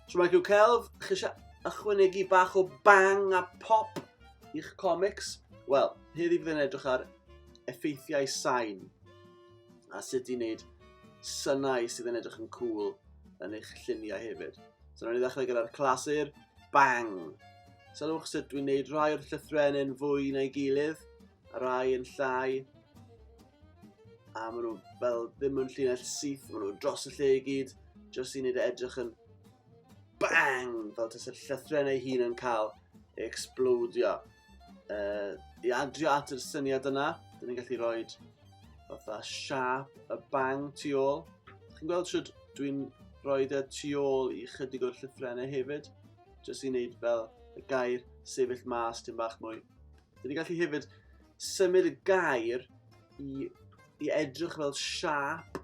Shwmae Hugh Celf, chi eisiau ychwanegu bach o bang a pop i'ch comics? Wel, heddi bydd yn edrych ar effeithiau sain a sut i wneud synau sydd yn edrych yn cool yn eich lluniau hefyd. So, rhaid i ddechrau gyda'r clasur, bang. Sylwch sut dwi'n neud rhai o'r llythrenyn fwy na'i gilydd, a rhai yn llai. A maen nhw fel ddim yn llinell syth, maen nhw dros y lle i gyd, jyst i wneud e edrych yn bang, fel tas y llythrenau hun yn cael ei explodio. uh, i adrio at yr syniad yna, dyn ni'n gallu rhoi fatha siap y bang tu ôl. Chi'n gweld sut dwi'n rhoi y tu ôl i chydig o'r llyffrennau hefyd, jyst i wneud fel y gair sefyll mas tyn bach mwy. Dyn ni'n gallu hefyd symud y gair i, i edrych fel siap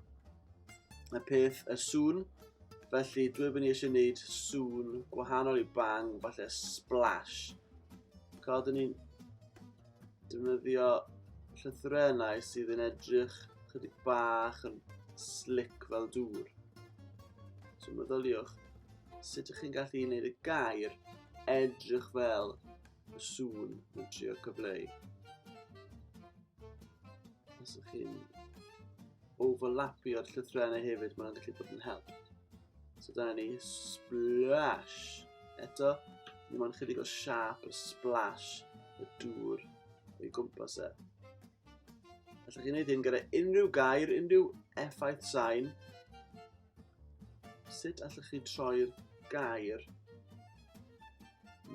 y peth y sŵn. Felly dwi'n mynd i eisiau gwneud sŵn gwahanol i bang, falle splash. Cod ni'n defnyddio llythrenau sydd yn edrych chydig bach yn slick fel dŵr. So meddyliwch, sut ydych chi'n gallu gwneud y gair edrych fel y sŵn yn trio cyfleu. Os ydych chi'n overlapio'r llythrennau hefyd, mae'n gallu bod yn help. So dyna ni splash. Eto, ni mae'n chydig o siap y splash y dŵr o'i gwmpas e. Allwch chi'n gwneud hyn gyda unrhyw gair, unrhyw effaith sain, Sut allwch chi troi'r gair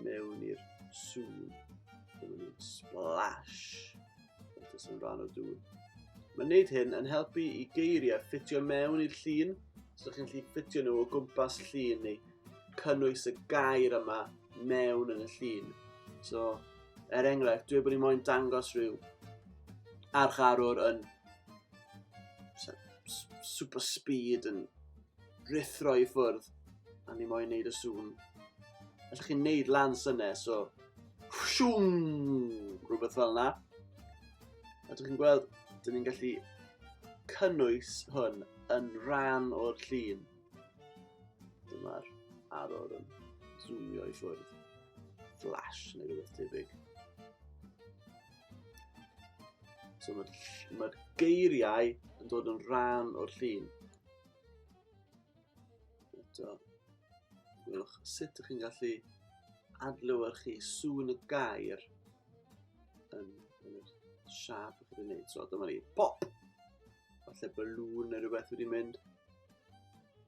mewn i'r sŵn? Splash! Felly sy'n rhan o dŵr. Mae'n neud hyn yn helpu i geiriau ffitio mewn i'r llun, so chi'n gallu ffitio nhw o gwmpas llun ni, cynnwys y gair yma mewn yn y llun. So, er enghraifft, dwi wedi bod i'n moyn dangos rhyw archarwr yn super speed yn rithro i ffwrdd a ni moyn neud y sŵn. Alla chi'n neud lan syne, so siwm, rhywbeth fel yna. A dych chi'n gweld, dyn ni'n gallu cynnwys hwn yn rhan o'r llun. Dyma'r arwr yn zoomio i ffwrdd. Flash neu rhywbeth tebyg. So mae'r ma geiriau yn dod yn rhan o'r llun. Eto, gwelwch sut ydych chi'n gallu adlewyrchu sŵn y gair yn, yn y siap ydych chi'n gwneud. So dyma ni, pop! Falle balloon neu rhywbeth wedi mynd.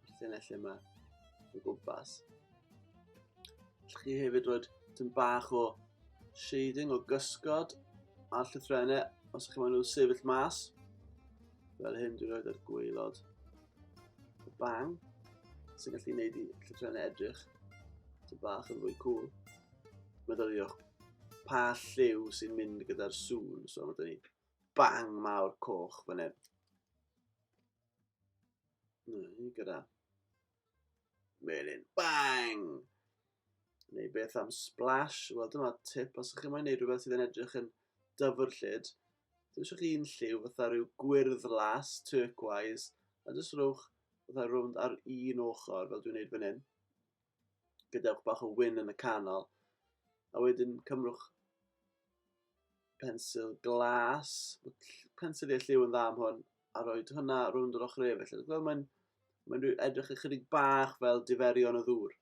Falle na lle yma. O gwmpas. Llwch chi hefyd fod tyn bach o shading o gysgod a llythrennau os ydych chi'n nhw sefyll mas. Fel hyn dwi'n rhoi ar gweilod y bang sy'n gallu gwneud i llythrennau edrych tyn bach yn fwy cool. Meddyliwch pa lliw sy'n mynd gyda'r sŵn, so mae dweud bang mawr coch fan hyn. Neu gyda melin. Bang! Neu beth am splash? Wel, dyma tip. Os ydych chi'n mwyn gwneud rhywbeth sydd yn edrych yn dyfr lled, dwi'n eisiau chi un lliw fatha rhyw gwyrdd las, turquoise, a jyst rhywch fatha rownd ar un ochr, fel dwi'n gwneud fan hyn. Gadewch bach o wyn yn y canol. A wedyn cymrwch pensil glas. Pensil i'r lliw yn dda am hwn. A roi hwnna rownd yr ochr efo. Felly, fel mae'n mae'n edrych ychydig bach fel diferion o ddŵr.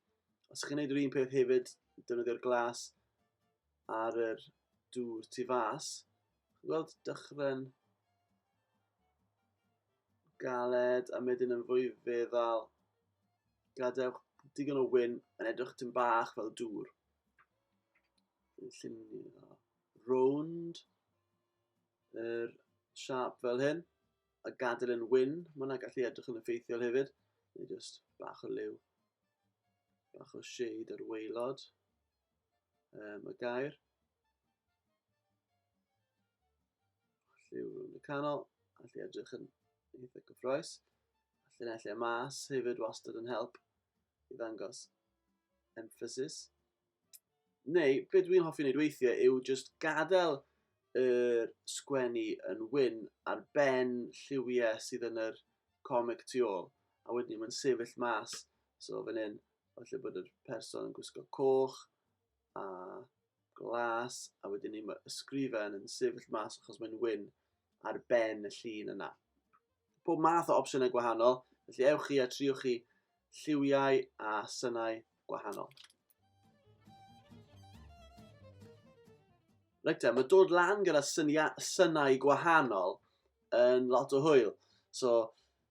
Os chi'n gwneud yr un peth hefyd, defnyddio'r glas ar yr dŵr tu fas. Gweld dychryn galed a medyn yn fwy feddal Gadewch digon o wyn yn edrych dim bach fel dŵr. Llunio rownd yr siap fel hyn a gadael yn wyn. Mae hwnna gallu edrych yn effeithiol hefyd. Neu just bach o liw, bach o shade ar waelod. um, y gair. Lliw rhwng y canol, allu edrych yn eitha gyffroes. Allu nellio mas hefyd wastad yn help i ddangos emphasis. Neu, beth dwi'n hoffi wneud weithiau yw just gadael y er sgwennu yn wyn ar ben lliwiau sydd yn yr comic tu ôl. A wedyn mae'n sefyll mas, so fan hyn, Falle bod yr person yn gwisgo coch a glas, a wedyn ni mae ysgrifen yn sefyll mas achos mae'n wyn ar ben y llun yna. Pob math o opsiynau gwahanol, felly ewch chi a triwch chi lliwiau a synau gwahanol. Reit te, mae dod lan gyda synia, synau gwahanol yn lot o hwyl. So,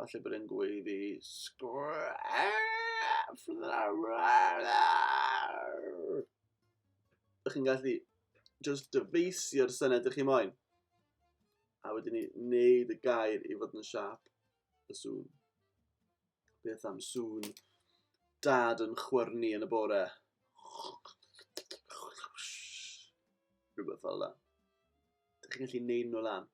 Falle bod e'n gweiddi sgref! Ydych chi'n gallu just dyfeisio'r syned ydych chi moyn? A wedyn ni wneud y gair i fod yn siap y sŵn. Beth am sŵn dad yn chwyrnu yn y bore? Rhywbeth fel yna. Dych chi'n gallu neud nhw lan.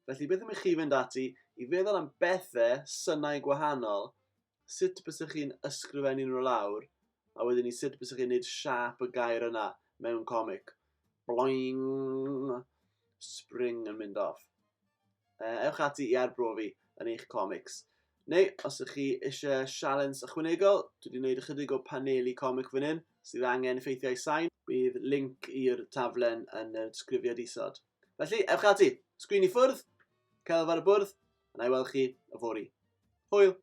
Felly beth am i chi fynd ati i feddwl am bethe, synau gwahanol, sut bys chi'n ysgrifennu nhw lawr, a wedyn ni sut bys chi'n neud siap y gair yna mewn comic. Bloing! Spring yn mynd off. Uh, ewch ati i arbrofi yn eich comics. Neu, os ydych chi eisiau sialens ychwanegol, dwi wedi gwneud ychydig o paneli comic fan hyn sydd angen effeithiau sain. Bydd link i'r taflen yn y disgrifiad isod. Felly, ewch ati, sgrin i ffwrdd, celf ar y bwrdd, a na i weld chi y fori. Hwyl!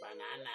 Banana!